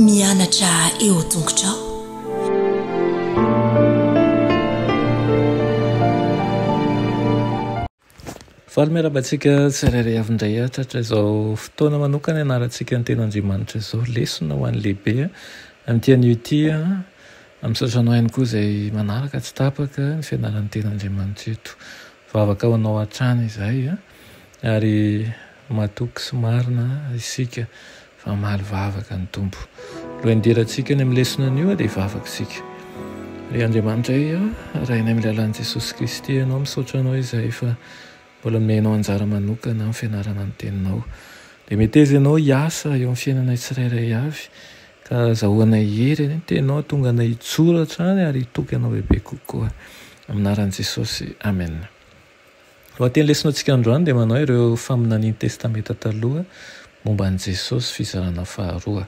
Mianatra eo tongotrao. Faly miarahaba antsika tsirairay avy indray atatra izao fotoana manokana ianarantsika ny teny Andriamanitra izao lesona ho an'ny lehibe amin'ity anio ity amin'ny sasana ihany koa izay manaraka tsy tapaka ny fianaran'ny teny Andriamanitra eto Vavaka ho anao hatrany izahay a! ary matoky sy marina isika fa mamaly vavaka ny Tompo. Lohendirantsika any amin'ny lesona anio dia vavak'isika. Ry Andriamanitraiy a! Rainay amin'ny lalan'i Jesosy Kristy ianao, misaotra anao izahay fa mbola nomenao anjara manokana amin'ny fianarana ny Teninao. Dia meteza ianao hiasa eo amin'ny fiainanay tsirairay avy Ka azahoanay hery anie ny teninao tonga anay hijoro hatrany ary hitoky anao bebe kokoa. Amin'ny anaran'i Jesosy. Amen. Lohateny lesonatsika androany dia manao ireo faminanian'ny testamenta taloha momba an'i Jesosy fizarana faharoa.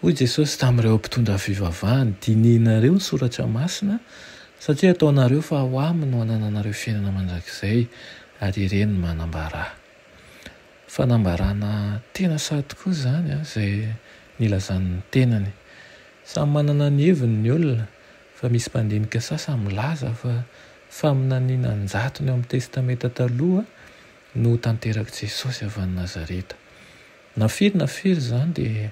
Hoy Jesosy tamin'ireo mpitondra fivavahany, dinihinareo ny soratra masina satria ataonareo fa ao aminy no anananareo fiainana mandrakizay ary ireny manambara. Fanambarana tena sahy tokoa izany izay nilazany ny tenany. Samy manana ny heviny ny olona fa misy mpandinika sasany milaza fa faminaniana an-jatony ao amin'ny Testamenta Taloha no ho tanterak'i Jesosy avy any Nazareta. Na firy na firy izany dia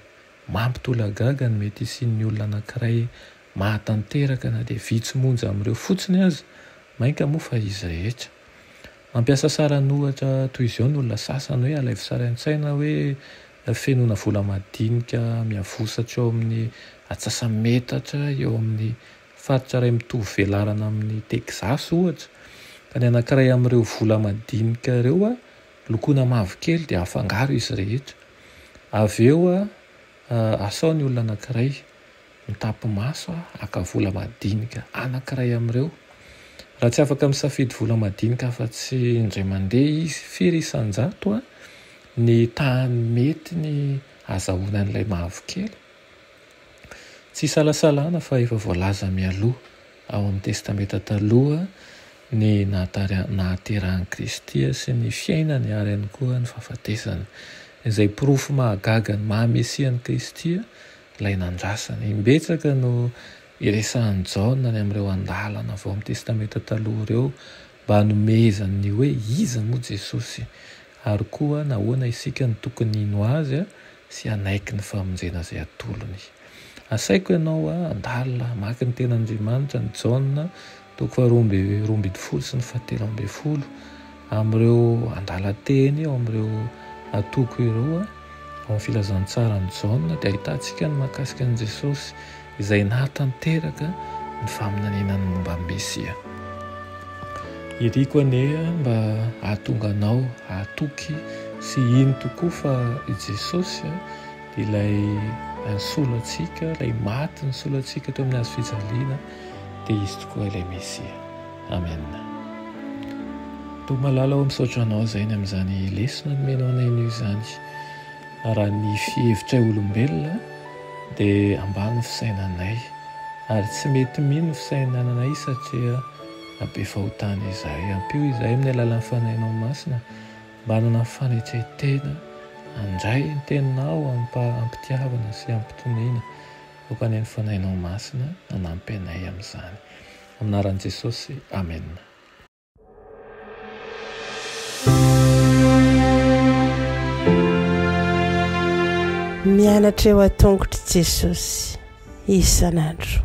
mampitolagaga ny mety hisian'ny olona anankiray mahatanteraka na dia vitsy monja amin'ireo fotsiny aza, mainka moa fa izy rehetra. Mampiasa saran'ohatra toy izao ny olona sasany hoe alaivo sary an-tsaina hoe fenoina vola madinika miavosatr'eo amin'ny atsasametatra eo amin'ny faritra iray mitovy velarana amin'i Texas ohatra ka ny anankiray amin'ireo vola madinika ireo lokoina mavokely dia afangaro izy rehetra avy eo asao ny olona anankiray Mitapy-maso aho haka vola madinika anankiray amin'ireo. Raha tsy afaka misafidy vola madinika afa-tsy indray mandeha izy, firy isan-jato ny tahan'ny mety ny hazahoana an'ilay mavokely? Tsy isalasalana fa efa voalaza mialoha ao amin'ny Testamenta Taloha ny nahaterahan'i Kristy sy ny fiainany ary ihany koa ny fahafatesany, izay porofo mahagaga ny maha-Mesia an'i Kristy. Ilay nandrasana. Imbetsaka no iresahan'i Jaona any amin'ireo andalana vao amin'ny Testamenta Taloha ireo mba hanomezany ny hoe iza moa Jesosy, ary koa nahoana isika no tokony hino azy sy hanaiky ny famonjena izay atolony. Asaiko ianao handalina hamaky ny Tenin'Andriamanitra an'i Jaona Toko faharoa amby roa ambin'ny folo sy ny fahatelo ambin'ny folo, amin'ireo andalan-teny ao amin'ireo antoko ireo, ao amin'ny Filazantsaran'i Jaona, dia ahitantsika ny mahakasika an'i Jesosy izay nahatanteraka ny faminaniana ny momba an'i Mesia. Iriko anie mba hahatonga anao hahatoky sy hino tokoa fa i Jesosy dia ilay nisolo antsika, ilay maty nisolo antsika teo amin'ny hazo fijaliana, dia izy tokoa ilay Mesia. Amen. Toa malala ô misaotra anao zainy amin'izany lesona nomenao anay anio izany. Raha ny fihevitray olombelona dia ambany ny fisainanay ary tsy mety mino ny fisainananay satria be fahotana izahay. Ampio izahay amin'ny alalan'ny fanahinao masina mba hanana ny fanetren-tena handray ny teninao amim-pitiavana sy amim-pitoniana. Vokany ny Fanahinao Masina hanampy anay amin'izany. Amin'ny anaran'i Jesosy, amena. Mianatra eo an-tongotr'i Jesosy isan'andro.